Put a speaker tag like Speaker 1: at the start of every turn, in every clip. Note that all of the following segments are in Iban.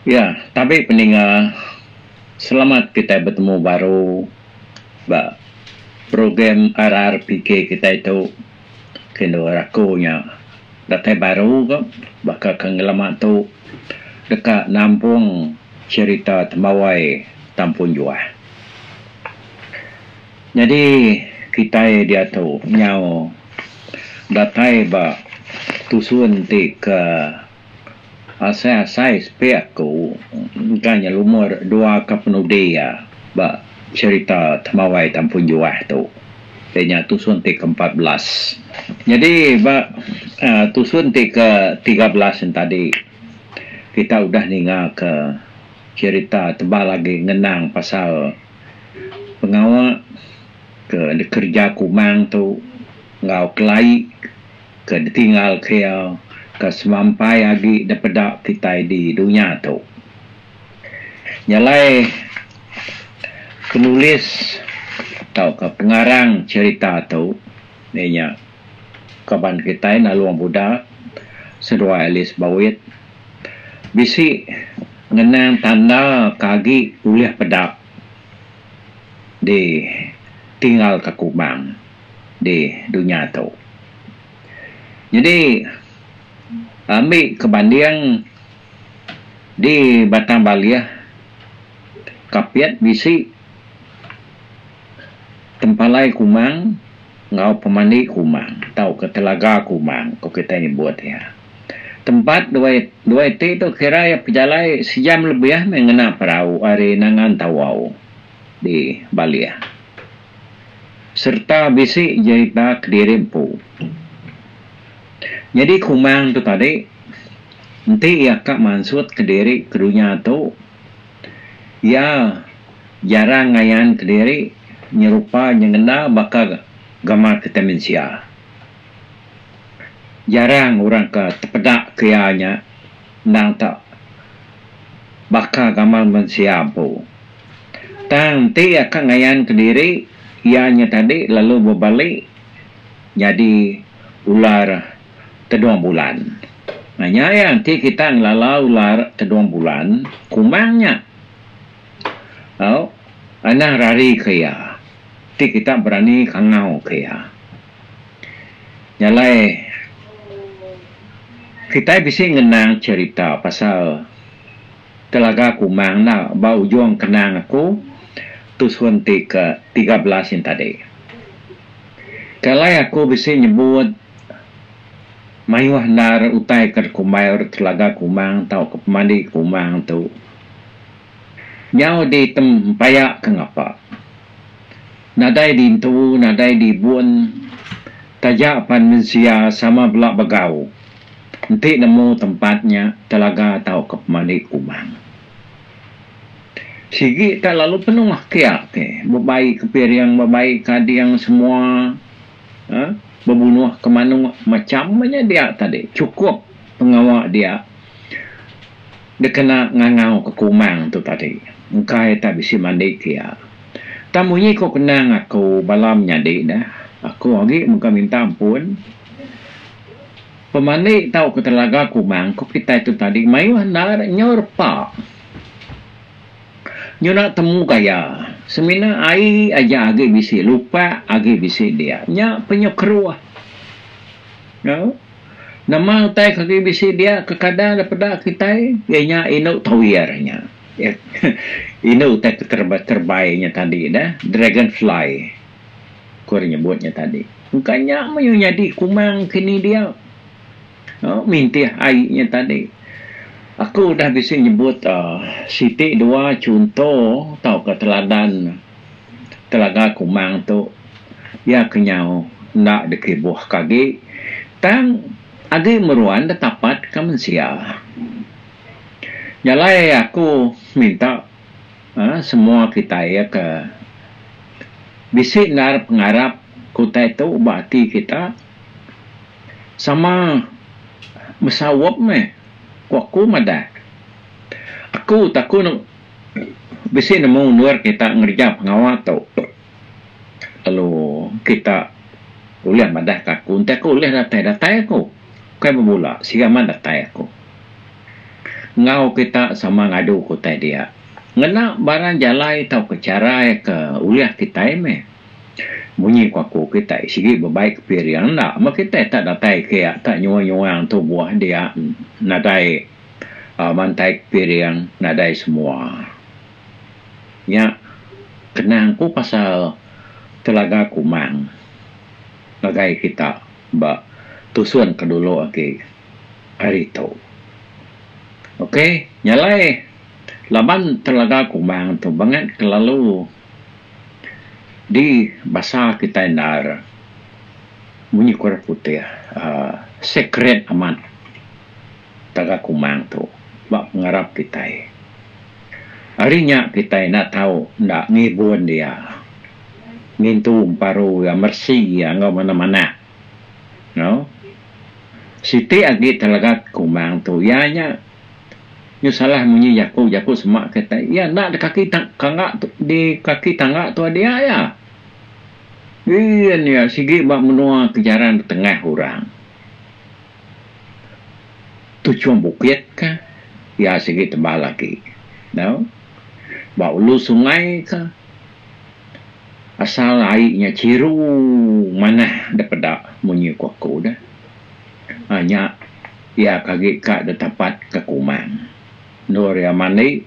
Speaker 1: Ya tabi peninga selamat kitai betemu baru ba program RRPK kitai tu ke endur ari aku nya datai baru ko baka ke ngelama tu deka nampung cherita tembawai tampun juah. Nyadi kitai diatu nyau datai ba tusun ti ke Asai-asai sepi aku engka nyelumur dua ka penudi iya ba cherita Temawai Tampun Juah tu. Dia nya tusun ti ke empat belas. Nyadi ba aaa tusun ti ke tiga belas yen tadi kita udah ninga ke cherita tebal agi ngenang pasal pengawa ke dikereja kumang tu enggau kelai ke ditinggal kea ke semampai agi dipeda kitai di dunya tu. Nyelai penulis tauka pengarang cherita tu iya nya kaban kitai Nalung Buda seduai Alice Bawit bisi ngenang tanda ke agi ulih peda ditinggal ka Kubang. di dunya tu. Jadi ambi ke banding di Batang Baleh Kapit bisi tempalai kumang enggau pemandi kumang tauka telaga kumang ko kita nyebut iya. Tempat duai duai ti tu kira iya pejalai sejam lebih meh ngena perau ari Nangan Tawau di Baleh. sereta bisi jerita kediri empu. Nyadi Kumang tu tadi, enti iya ka mansut kediri ke dunya tu, iya jarang ngayan kediri nyerupa nyengenda baka gambar kitai mensia. Jarang orang ke tepeda ke iya nya. endang ka baka gamal mensia empu. Tang enti iya ka ngayanka diri iya nya tadi lalu bebali nyadi ular tedong bulan. Nah nya iya enti kita ngelala ular tedong bulan, kumang nya au anang rarika iya ti kita berani kangauka iya. Nyalai kitai bisi ngenang cherita pasal telaga kumang enda ba ujung kenang aku tusun ti ke tiga belas yen tadi. Ke alai aku bisi nyebut mayuh endar utai ke dikumbai orang telaga kumang tau ke pemandi kumang tu nyau ditem paya ke ngapa. Nadai dintu, nadai dibun, taja pan mensia sama bela begau enti nemu tempat nya telaga tauka pemali kumang. Sigi ka lalu penuh aki aki, bebai ke piring, bebai ke ading semua uhh bebunuh ke manuk macham ba nya dia tadi chukup pengawa dia dikena ngangau ke kumang tu tadi engkai tak bisi mandi ke iya. Tang munyi ko kenang aku bala menyadi da, aku agi mega minta ampun. Pemandi tau ke telaga kumang ko kitai tu tadi mayuh enda ira nyau repa. Nyunak temu gaya semina ai aja agi bisi lupak agi bisi dia. Nya penyuh keruh. Nya nama utai ke agi bisi dia ke kadang da peda kitai iya nya indu tawir nya. Inu utai keterebai inya tadi dah dragon fly ku ri nyebut nya tadi engka nya meyu nyadi kumang kini dia mintih ai nya tadi aku udah bisi nyebut uhh siti dua chunto tauka teladan telaga kumang tu iya ke nyau enda dikibuh ke agi tang agi meruan ditapat ke mensia. Jalai aku minta uhh semua kitai ke bisi endar pengarap ke utai tu ba ati kita sama besaup meh ku aku madah aku taku bisi nemu endur kita ngereja pengawa tu lalu kita ulih madah ka aku enti aku ulih datai datai aku. Ukai bebula, sida mah datai aku. Enggau kita sama ngadu ke utai dia. Ngena barang jalai tauka charai ke ulih kitai meh. Munyi ku aku kitai sigi bebai ke piring enda meh kitai tak datai ke iya tak nyuang-nyuang tubuh dia nadai aaa mantai ke piring nadai semua. Nya kenang ku pasal telaga kumang ngagai kita. ba tusun ke dulu agi ari tu. Ok nya alai laban telaga kumang tu bangat kelalu di basa kitai endar munyi ke orang putih uhh secret amat. taga kumang tu ba pengarap kitai. Ari nya kitai enda tau enda ngibun dia, ngintu emparu iya, meresi iya enggau manah-manah. Nau. Siti agi telaga kumang tu iya nya nyau salah munyi jaku, jaku semak kitai. Iya enda di kaki kanga di kaki tangga tua dia iya. Bin iya sigi ba menua ke jarang ditengah orang. Tu chum bukit kah? Iya sigi tebal agi. Nau? Ba ulu sungai kah? Asal ai nya chiru manah da peda munyi ku aku da. Ai nya iya ka agi ka da tapat ka kumang. Endur iya mandi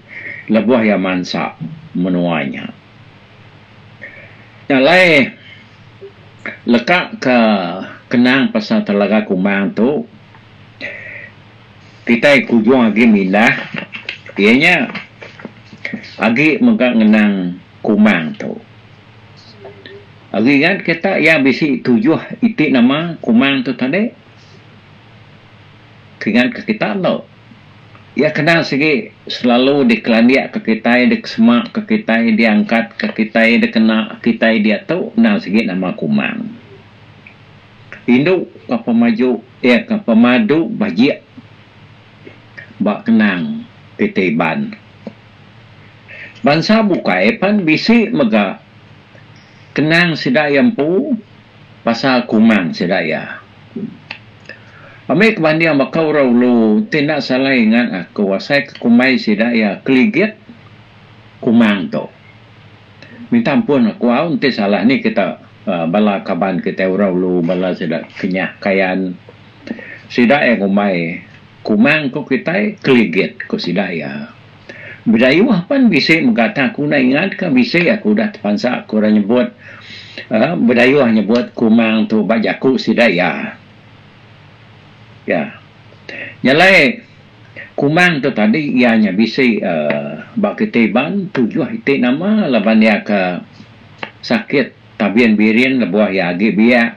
Speaker 1: lebuh iya mansa menua nya. Nya alai leka ke kenang pasal Telaga Kumang tu kitai ke ujung agi mindah iya nya agi mega ngenang Kumang tu. Agi ingat ke tak iya bisi tujuh iti nama Kumang tu tadi? Ke ingat ke kita endo? Iya kena sigi selalu dikelandikka kitai, dikesemakka kitai, diangkatka kitai, dikena kitai diatu endang sigi nama kumang. Indu ka pemaju iya ka pemadu bajik ba kenang kitai Iban. Bansa bukai pan bisi mega kenang sida iya empu. Pasal kuman sida iya. Ambi kebanding baka orang ulu ti enda salai ingat aku asai ke kumbai sida iya keligit kuman tu. Minta ampun aku au enti salah ni kita bala kaban kitai orang ulu bala sida Kenyah Kayan sida iya ngumbai kuman ku kitai keligit ku sida iya. Bidayuh pan bisi mega tang aku enda ingat ka bisi aku udah tepansa ku orang nyebut uhh Bidayuh nyebut kumang tu ba jaku sida iya. Iya. Nyelai kumang tu tadi iya nya bisi uhh ba kitai Iban tujuh iti nama laban iya ka sakit tabin birin lebuh iya agi biak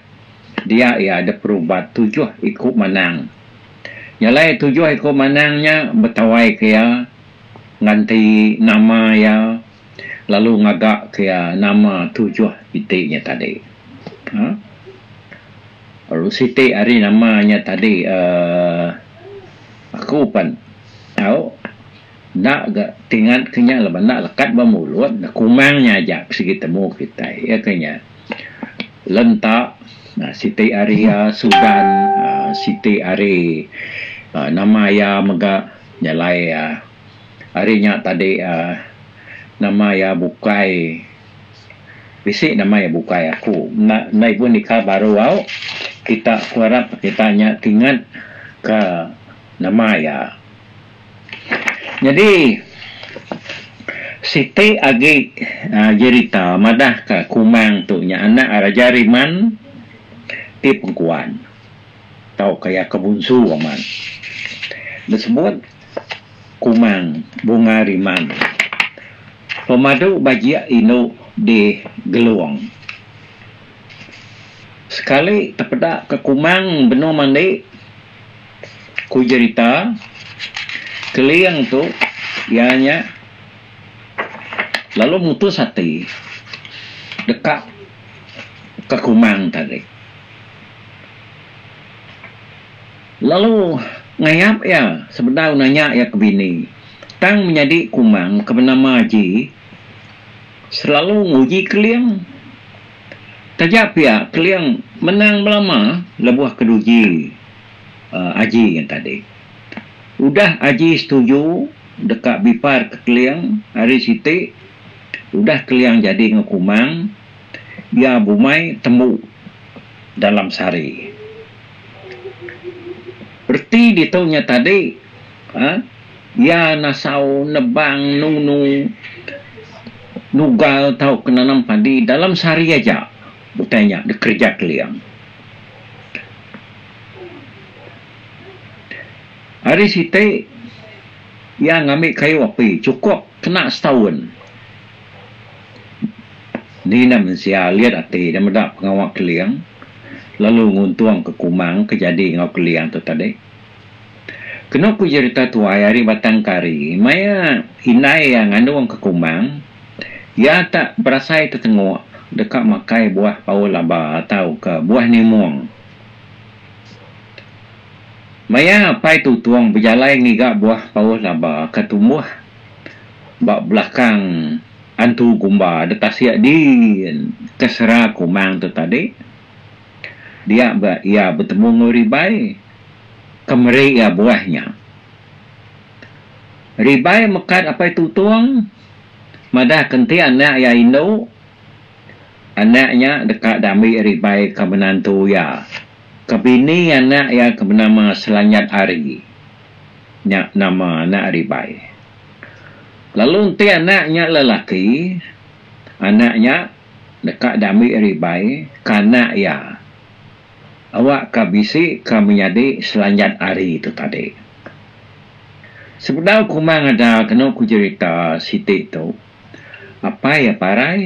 Speaker 1: dia iya dep berubat tujuh iku manang. Nya alai tujuh iku manang nya betawaika iya, nganti nama iya, lalu ngagaka iya nama tujuh iti nya tadi. Aaa. Lalu siti ari nama nya tadi aaa aku pan tau. Enda ga ti ngat ke nya laban enda lekat ba mulut ne kumang nya aja ke sigi temu kitai iya ke nya lenta aaa siti ari iya sudan aaa siti ari aaa nama iya mega nyalai aaa ari nya tadi aaa nama iya bukai bisi nama iya bukai aku enda enda ibu nika baru au kita aku arap kita nya ti ngat ka nama iya. Nyadi siti agi jerita madah ka kumang tu nya anak Raja Riman ti pengkuan tau ka iya ke bunsu amat disebut kumang bunga riman pemadu bajik indu di Gelong sekali tepeda ka kumang benung mandi Ku jerita, Keling tu iya nya lalu mutus ati deka ke Kumang tadi. Lalu ngayap iya sebedau nanya iya ke bini, tang menyadi Kumang ke benama Aji selalu nguji Keling. Taja pia Keling menang belama lebuh keduji Aji ngan Tadi. Udah Aji setuju deka biparka Keling ari siti udah Keling jadi enggau Kumang iya bumai tembu dalam sehari. Reti ditu nya tadi. Iya nasau nebang nunu nugal tauka nanam padi dalam sehari aja utai nya dikereja Keling. Ari siti iya ngambi kayu api chukup kena setaun. Ni enda mensia alit ati nya meda pengawa Keling lalu nguntungka kumang ke jadi enggau Keling tu tadi. Kenu ku jerita tuai ari Batang Kari, maya indai iya ngandung ke Kumbang, iya tak berasai tetenguk deka makai buah paul laba tauka buah nimung. Maya Apai Tutung bejalai ngiga buah paul laba ke tumbuh ba belakang Antu Gumba detasik din ke sera Kumbang tu tadi, Dia ba iya betemu enggau Ribai ke meri iya buah nya. Ribai mekat Apai Tutong madahka enti anak iya indu, anak nya deka diambi Ribai ke menantu iya ke bini anak iya ke benama Selanyat Ari. Nya nama anak Ribai. Lalu enti anak nya lelaki, anak nya. Deka diambi ari bai ke anak iya awak ke bisi ke menyadi selanjat hari tu tadi. Sebedau kuma ngajar kenu ku jerita siti tu, apai iya parai.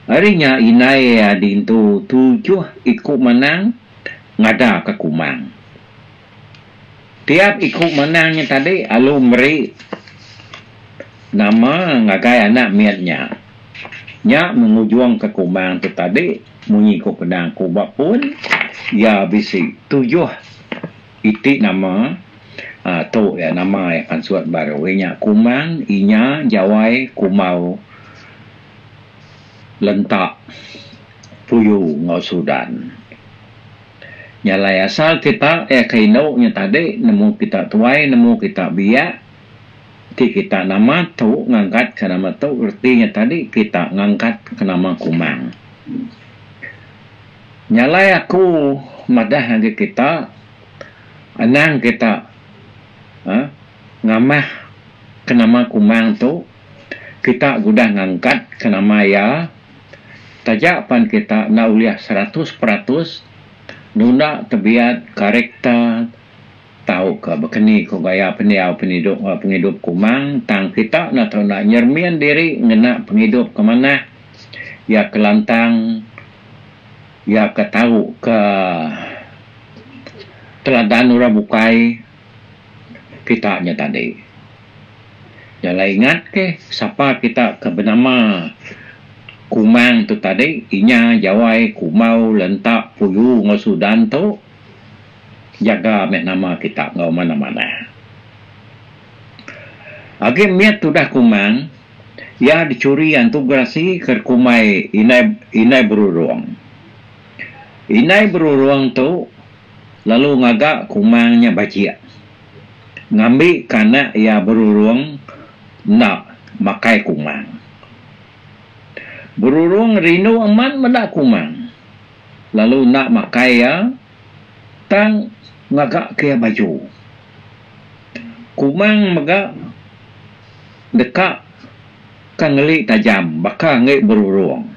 Speaker 1: Ari nya indai iya dintu tujuh iku manang ngajar ke kumang. Tiap iku manang nya tadi alu meri nama ngagai anak mit nya. Nya mengujungka kumang tu tadi munyi ku Penang ku ba pun iya bisi tujuh iti nama aaa tu iya nama iya pansut baru iya nya Kumang, Inya, Jawai, Kumau, Lenta, Puyu enggau Sudan. Nya alai asal kita iya ke indu nya tadi nemu kita tuai nemu kita biak. Ti kita nama tu ngangkat ka nama tu reti nya tadi kita ngangkat ka nama kumang. Nyalai aku madah agi kita anang kita uhh ngamah ka nama kumang tu kita udah ngangkat ka nama iya taja pan kita enda ulih seratus peratus nunda tebiat karakter. Tauka bakani ko gaya pendiau penidok ba pengidup kumang tang kita enda tau enda nyermin diri ngena pengidup ke manah iya ke lantang iya ke tau ke teladan orang bukai kita nya tadi. Jalai ingat ke sapa kita ke benama kumang tu tadi inya jawai kumau lentak puyu enggau sudan tu. Jaga meh nama kita enggau manah-manah. Agi mit tudah Kumang, iya dichuri Antu Gerasi ke dikumbai Indai Indai Berurung. Indai Berurung tu lalu ngaga Kumang nya bajik. Ngambi ka anak iya Berurung enda makai Kumang. Berurung rindu amat meda Kumang. lalu enda makai iya tang ngagaka iya baju. Kumang mega deka ka ngeli tajam baka enggai berurung.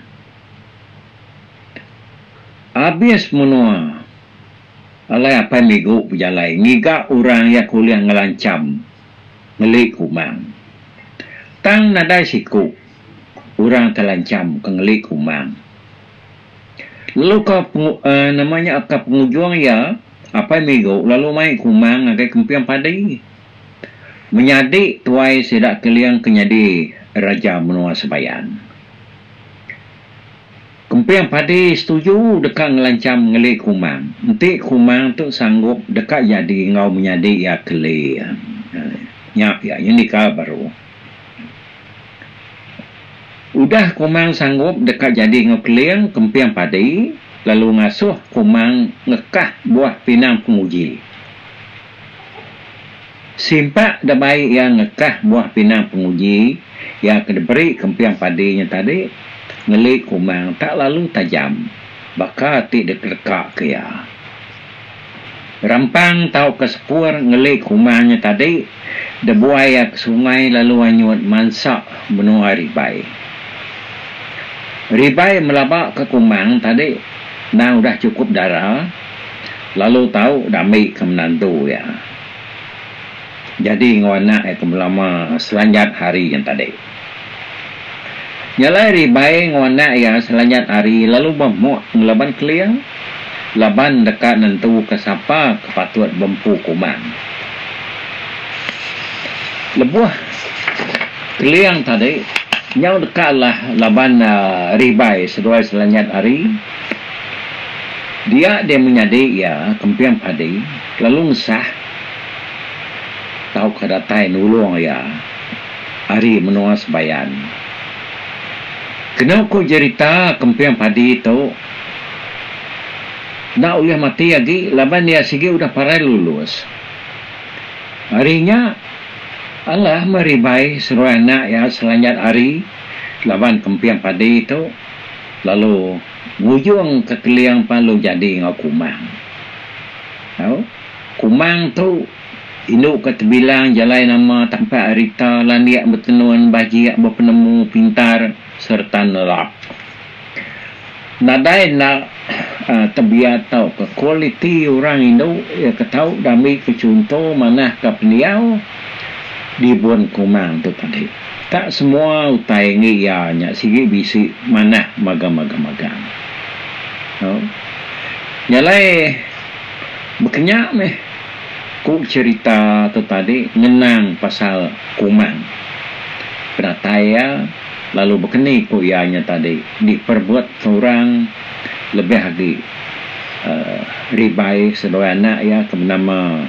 Speaker 1: Abis menua alai apai Migu bejalai ngiga orang iya kulih ngelancham ngeli Kumang. Tang nadai siku orang telancham ke ngeli Kumang. Lalu ka nama nya ka pengujung iya apai migu lalu mai kumang ngagai kemping padi. Menyadi tuai sida Keling ke nyadi raja menua Sebayan. Kemping padi setuju deka ngelancham ngeli kumang enti kumang tu sanggup deka jadi enggau menyadi iya Keling. Nya pia nyendika baru. Udah Komang sanggup deka jadi enggau Keling kemping padi lalu ngasuh Komang ngekah buah pinang penguji. Simpak da bai iya ngekah buah pinang penguji iya ke diberi kemping padi nya tadi ngeli Komang tak lalu tajam baka ti dikeleka ke iya. Rampang tauka sepur ngeli ke uma nya tadi debuai iya ke sungai lalu anyut mansa menua Ribai. Ribai melaba ke Kumang tadi endang udah chukup dara lalu tau dambi ke menantu iya jadi enggau anak iya ke belama selanjat hari nya tadi. Nyalai ribai enggau anak iya selanyat hari lalu bemuk ngelaban keling laban deka nentuka sapa ke patut bempu kuman. Lebuh keling tadi nyau deka alah laban ribai seduai selanyat hari, dia deh menyadi iya kemping padi lalu ngesah tauka datai nulung iya. Ari menua Sebayan. Kena ku jerita kemping padi tu enda ulih mati agi laban iya sigi udah parai lulus. Ari nya alah meh Ribai seruai anak iya selanjat hari laban kemping padi tu lalu ngujung kekeling pan lalu jadi enggau Kumang. Au. Kumang tu Indu ke tebilang jalai nama tampak arita landik betenun bajik bepenemu pintar sereta nelap. Nadai enda tebiat tauka kualiti orang indu iya ke tau diambika chunto manahka pendiau di Bun Kumang tu tadi. Tak semua utai enggi iya nya sigi bisi manah magang-magang magang. Au. Jalai bekenya meh. Ku cherita tu tadi ngenang pasal Kumang. Penatai iya lalu bekeni ku iya nya tadi diperebutka orang lebih agi Ribai seduai anak iya ke benama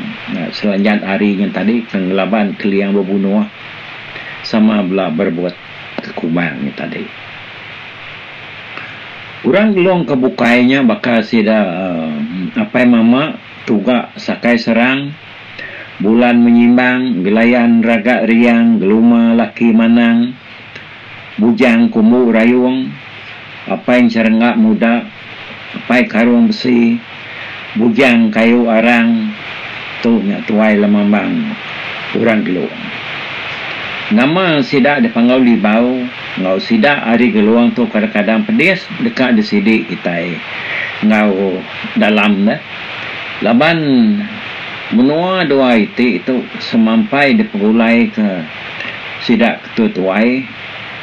Speaker 1: Selanjat Ari nya tadi ke ngelaban Keliang Bebunoh sama bela berebutka Kumang nya tadi. Orang Gelong ke bukai nya baka sida apai mama. Tuga sakai serang, Bulan menyimbang, Gelayan raga riang, Geluma laki manang, Bujang kumbu rayung, Apai encerengga muda, Apai karung besi, Bujang kayu arang, Tu nya tuai lemambang orang Gelong. Nama sida dipanggau Libau enggau sida ari Gelong tu kadang-kadang pedis deka disidi kitai enggau. dalam ne laban menua dua iti tu semampai dipegulaika sida ke tuai-tuai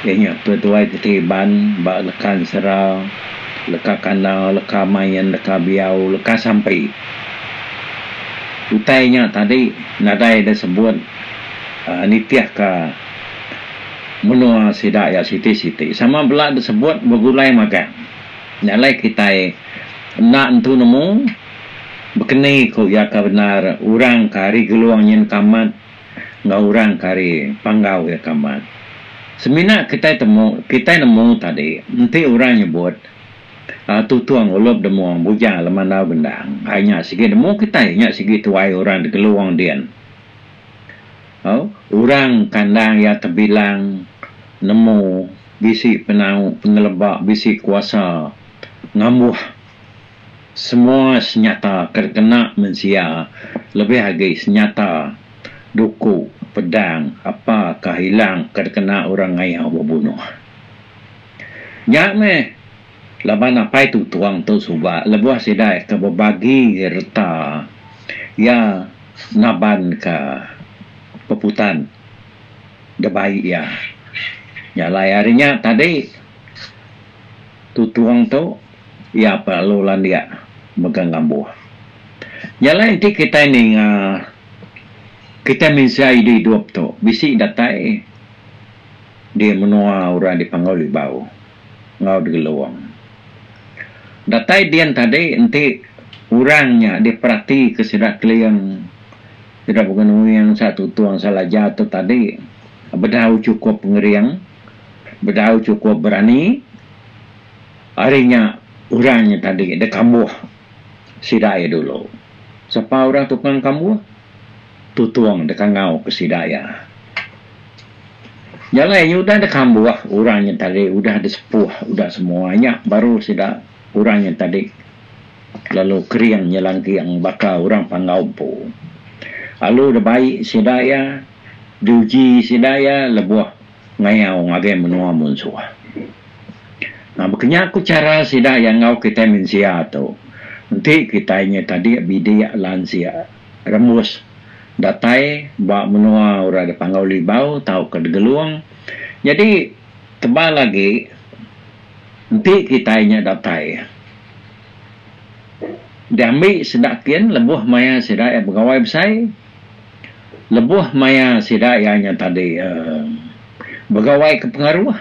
Speaker 1: iya nya tuai-tuai ti teriban ba leka ensera, leka kanda, leka main, leka biau, leka sampi. Utai nya tadi nadai da sebut aaa nitihka menua sida iya siti-siti sama bela da sebut begulai magang. Nya alai kitai enda nentu nemu bekeni ku iya ka bendar orang ke ari Gelong nyin ka amat enggau orang ke ari Panggau iya ka amat. Semina kitai temu kitai nemu tadi enti orang nyebut uhh Tutung Ulup Demung Buja Lemandau Gendang ai nya sigi nemu kitai nya sigi tuai orang di Gelong din. Au orang kandang iya tebilang nemu. bisi penau pengeleba bisi kuasa ngambuh semua senyata ke dikena mensia lebih agi senyata duku pedang apakah ilang ke dikena orang ngayau bebunuh. Nya meh laban Apai Tutong tu suba lebuh sida ke bebagi reta iya nabanka peputan. da bai iya. Nyalai ari nya tadi, tutong tu iya perlu landik mega ngambuh. Nyalai enti kitai ninga kitai mensia idi idup tu bisi datai di menua orang dipangau Libau enggau Digelong. Datai din tadi enti orang nya diperatika sida keling. Sida baka nungi angsa tutung angsa laja tu tadi, bedau chukup pengering, bedau chukup berani, ari nya orang nya tadi dek kambuh sida iya dulu. Sapa orang tukang kambuh? Tutung dek angau ke sida iya. Jalai nya udah dek kambuh orang nya tadi udah dek sepuh udah semua nya baru sida Orang nya tadi lalu kering nyelangking baka orang panggau empu. Alu da bai sida iya diuji sida iya lebuh ngayau ngagai menua munsuh. Nah baka nya ku chara sida iya enggau kitai mensia tu. Enti kitai nya tadi bidik lansik rembus datai ba menua orang da panggau Libau tauka da Gelong jadi Tebal agi, enti kitai nya datai diambi sida kin lebuh maya sida iya begawai besai, lebuh maya sida iya nya tadi uhh begawai ke pengaruh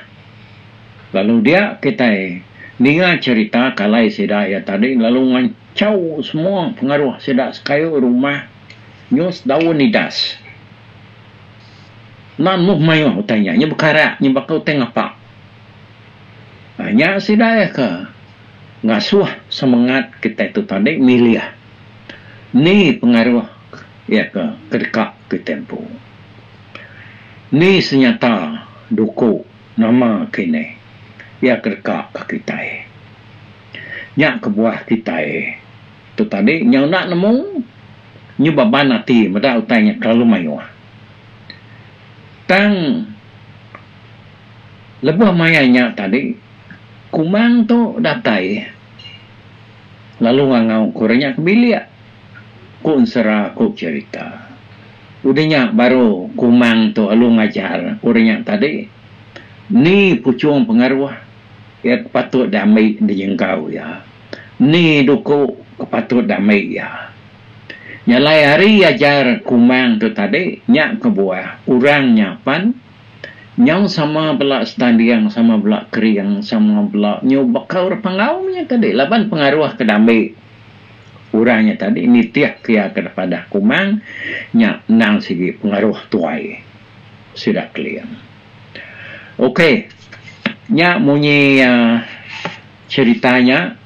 Speaker 1: lalu dia kitai ninga cherita kalai sida iya tadi lalu ngancau semua pengaruh sida sekayu rumah nyus daun idas. Lan meh mayuh utai nya, nya bekarak nya baka utai ngapa. Nya sida iya ke ngasuh semengat kitai tu tadi milih ni pengaruh iya ke ke deka kitai empu. Ni senyata duku nama kinih iya ke deka ka kitai. Nya kebuah kitai tu tadi nyau enda nemu. nyu beban ati meda utai nya kelalu mayuh. Tang lebuh maya nya tadi Kumang tu datai lalu ngangau ku orang nya ke bilik ku ensera ku cherita. Udah nya baru Kumang tu alu ngajar ku orang nya tadi ni puchung pengaruh iya ke patut diambi di enggau iya. Ni duku ke patut da meh iya? Nyalai ari ajar Kumang tu tadi nya kebuah orang nya pan nyau sama bela setanding, sama bela kering, sama bela nyubaka orang panggau meh nya tadi laban pengaruh ke diambi orang nya tadi nitihka iya ke padah Kumang nya endang sigi pengaruh tuai sida Keling. Okey nya munyi aaa. Cherita nya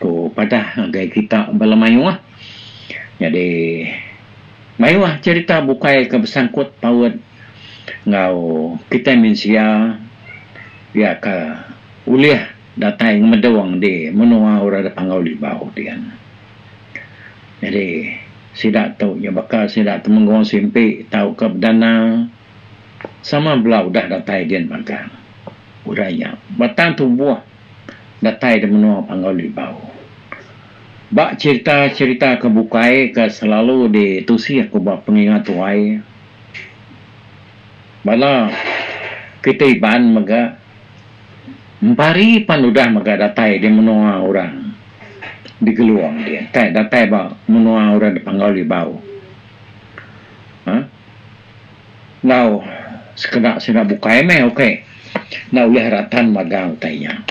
Speaker 1: ko padah ngagai kita bala mayuh. Nyadi mayuh cherita bukai ke besangkut paut enggau kitai mensia iya ke ulih datai ngemedong di menua orang da panggau Libau ti kan. Nyadi sida tu nya baka sida Temenggong Simpi tauka Bedana sama bela udah datai din magang. Udah nya, batang tumbuh datai di menua Panggau Libau. Ba cherita-cherita ke bukai ke selalu ditusih ku ba pengingat tuai, bala kitai Iban mega Empari pan udah mega datai di menua orang di Gelong dia, kai datai ba menua orang di Panggau Libau. Aa. Enggau sekeda sida bukai meh ok enda ulih ratan magang utai nya.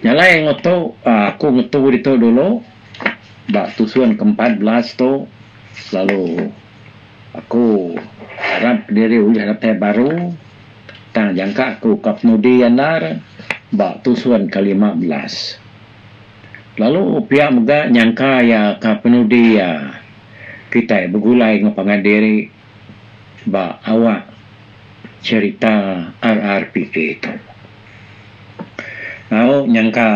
Speaker 1: Nya alai enggau tu aku ngetu ditu dulu ba tusun ke empat belas tu lalu aku arap diri ulih datai baru tang jangka aku ka penudi andar ba tusun ke lima belas. Lalu pia mega nyangka iya ka penudi iya kitai begulai enggau pangan diri. ba awak cherita RRPK tu. Au nyangka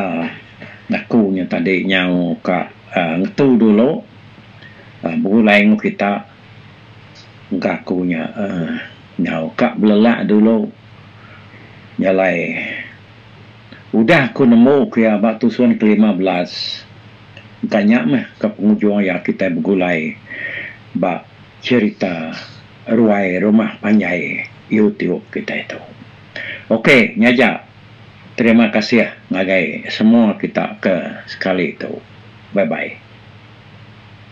Speaker 1: aku nya tadi nyau ka aaa ngetu dulu aaa begulai engu kita engka aku nya aaa nyau ka belelak dulu jalai udah ku nemu ku iya ba tusun ke lima belas engka nya meh ka pengujung iya kita begulai ba cherita ruai rumah panjai youtube kitai tu ok nya ja terima kasih ngagai semua kita ke sekali tu bye bye.